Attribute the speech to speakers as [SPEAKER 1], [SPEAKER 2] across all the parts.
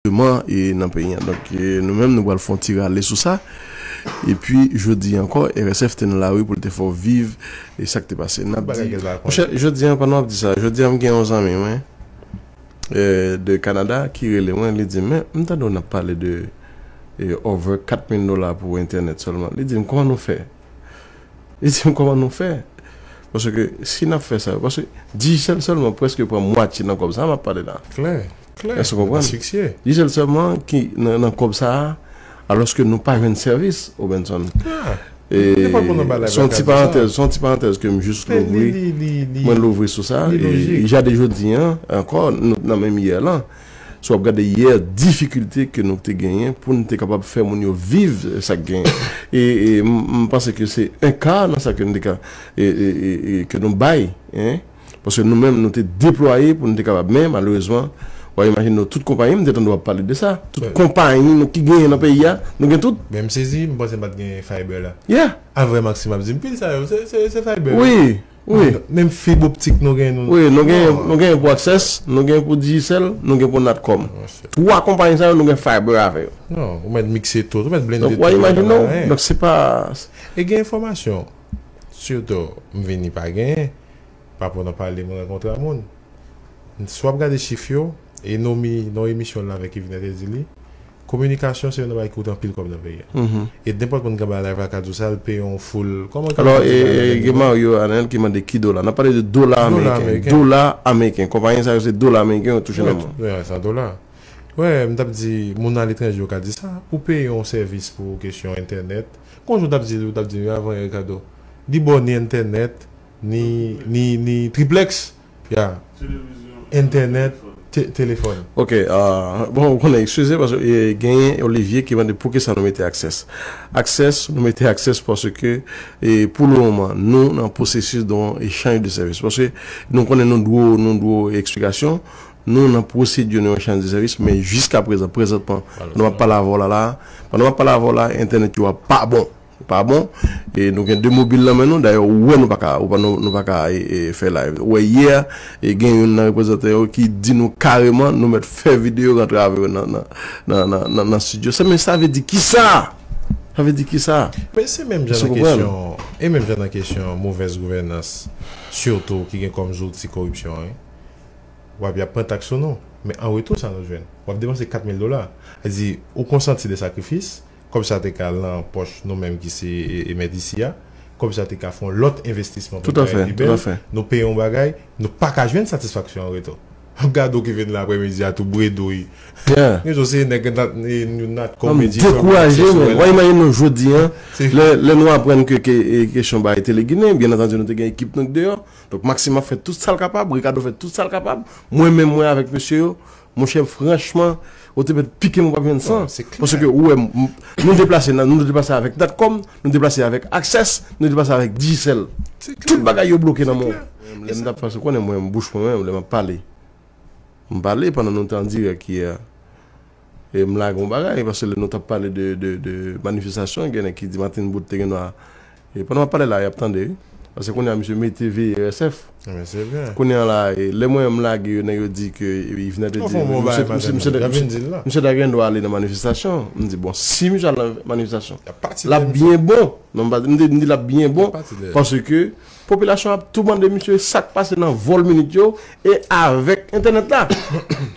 [SPEAKER 1] Deman e nan peyi an. Donk nou menm nou pral fon ti rale sou sa. E pi jodi ankò RSF te nan lari pou l te fè w viv e sa k te pase. N ap di. Monchè jodi an pandan w ap di sa, jodi an m gen yon zanmi mwen de Kanada ki rele mwen li di m men m tande w n ap pale de over 4 mil dola pou entènèt sèlman. Li di m kòman nou fè Li di m kòman nou fè? Paske si n ap fè sa yo, paske dijèl sèlman prèske pran mwatye nan kòb sa a m ap pale la. Klè, klè, Èske w
[SPEAKER 2] konprann?
[SPEAKER 1] asfiksyè. Dijèl sèlman ki nan nan kòb sa a, alòske nou pa jwenn sèvis, Robenson. Ah! E, Li pa konn anba laj se yon ti lakadyo sa. parantèz, se yon ti parantèz ke m jis Men li, louvri, li, li, li, mwen louvri sou sa. li E lojik. jade jodi an, ankò, nou t nan menm yè lan. Si w ap gade yè difikilte ke nou te genyen pou n te kapab fè moun yo viv sa k genyen. E m panse ke se un quart nan sa ke nou te ka ke nou bay. Paske nou menm nou te deplwaye pou nou te kapab men malerezman wa imajine w tout konpayi m te tande w ap pale de sa. Tout konpayi nou ki genyen nan peyi a nou gen tout. Men m sezi m panse m pa
[SPEAKER 2] t gen Fiber la. Yeah. Avre Maxime
[SPEAKER 1] ap di m
[SPEAKER 2] pil sa yo se Fiber yo. Wi. Wi.
[SPEAKER 1] Menm fib optik
[SPEAKER 2] nou gen nou. Wi, nou gen nou gen
[SPEAKER 1] pou Access, nou gen pou Digicel, nou gen pou Natcom. 3 konpayi sa yo nou gen fiber avè yo. Non, ou mèt mikse
[SPEAKER 2] tout, ou mèt blende tout. Donk wap imajine w,
[SPEAKER 1] donk
[SPEAKER 2] se
[SPEAKER 1] pa. E gen enfòmasyon,
[SPEAKER 2] sitou m vini pa genyen, pa pou nan pale m rankontre a moun. Si wap gade chif yo. E Nomi nan emisyon l la vè Kevin Hart el di li kominikasyon se yon nan bagay ki koute anpil kòb nan peyi a. E nenpòt moun ka bay live la ka di w sa l peye yon foul kòman ke l fè ti bagay la gen dola.
[SPEAKER 1] Alò e gen Mario Arnel ki mande ki dola. N ap pale de dola ameriken. Dola ameriken. Konpayen sa yo se dola ameriken yo touche nan moun. Wè sa dola.
[SPEAKER 2] Wè m t ap di moun aletranje yo ka di sa. Pou peye yon sèvis pou kesyon entènèt. Gon jou m t ap di li ou t ap di m yo avan Erikado. Li ba w ni entènèt ni ni ni triplèks. Ya entènèt telefòn. Ok bon ou konnen
[SPEAKER 1] excuze paske genyen Olivier ki mande poukisa nou mete access access nou mete access paske pou le moman nou nan processus don echanj de service paske nou konnen nou dwe w nou dwe w explikasyon nou nan procedure yon echanj de service men jiska prezan prezantman pandan map pale avè w la la pandan map pale avè w la entènèt yo a pa bon. Ou pa bon e nou gen 2 mobil nan men nou dayè ou wè nou pa ka nou pa ka fè live ou wè yè gen youn nan reprezantan yo ki di nou kareman nou mèt fè videyo rantre avè yo nan nan nan studio sa men sa vle di kisa sa vle di kisa men se menm jan nan
[SPEAKER 2] kesyon e menm jan nan kesyon movèz gouvènans sitou ki gen kòm zouti koripsyon wi ou ap yap pran taks sou nou men an retou sa nou jwenn wap depanse 4 mil dola sa vle di ou konsanti de sakrifis. Kòb sa te ka lan pòch nou menm ki se emèt isi a. Kòb sa te ka fè yon lòt envestisman pou bagay pi bèl.
[SPEAKER 1] Nou peye yon bagay,
[SPEAKER 2] nou pa ka jwenn satisfaksyon an retou. Gade w ki vin lan aprèmidi a tou bredouy. Retou se nèg nou nat kò men di fè w wè aksè sou wè.
[SPEAKER 1] Imajine nou jodi an, lè nou aprann ke kesyon bay Tele Ginen, byen antandi nou te gen ekip nou deyò. Donk Maksim ap fè tout sa l kapab, Rikado fè tout sa l kapab. Mwen menm mwen avèk mesye yo, Monchè franchman ou te mèt pike m ou pap jwenn san paske ou wè m nou deplase nan nou deplase avèk natcom nou deplase avèk aksès nou deplase avèk dijisèl tout bagay yo bloke nan men w lè m tap pase ou konnen mwen bouch mwen menm lè map pale m pale pandan nou te an dirèk yè e m lage yon bagay paske lè nou tap pale de manifestasyon gen nèg ki di Martine Boot te gen dwa E pandan map pale la yap tande wi. Paske kounye a misye mete veye RSF. Ebyen se vre. Kounye
[SPEAKER 2] an la lè
[SPEAKER 1] mwen menm m lage yo nèg yo di ke Yvenè te di misye ta gendwa ale nan manifestasyon. M di bon si misye al nan manifestasyon lap byen bon. Non m di lap byen bon paske popilasyon ap tou mande misye sak pase nan vòl minit yo e avèk entènèt la.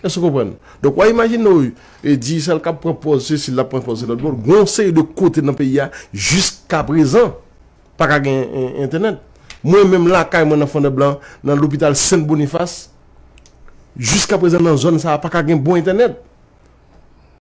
[SPEAKER 1] Èske w konprann? Donk wa imajine w E Digicel kap pran pòz sesi lap pran pòz se lòt bon gen yon seri de kote nan peyi a jiskaprezan paka gen entènèt mwen menm lakay mwen nan fondèblan nan lopital sent bonifas jiskaprezan nan zòn sa paka gen bon entènèt.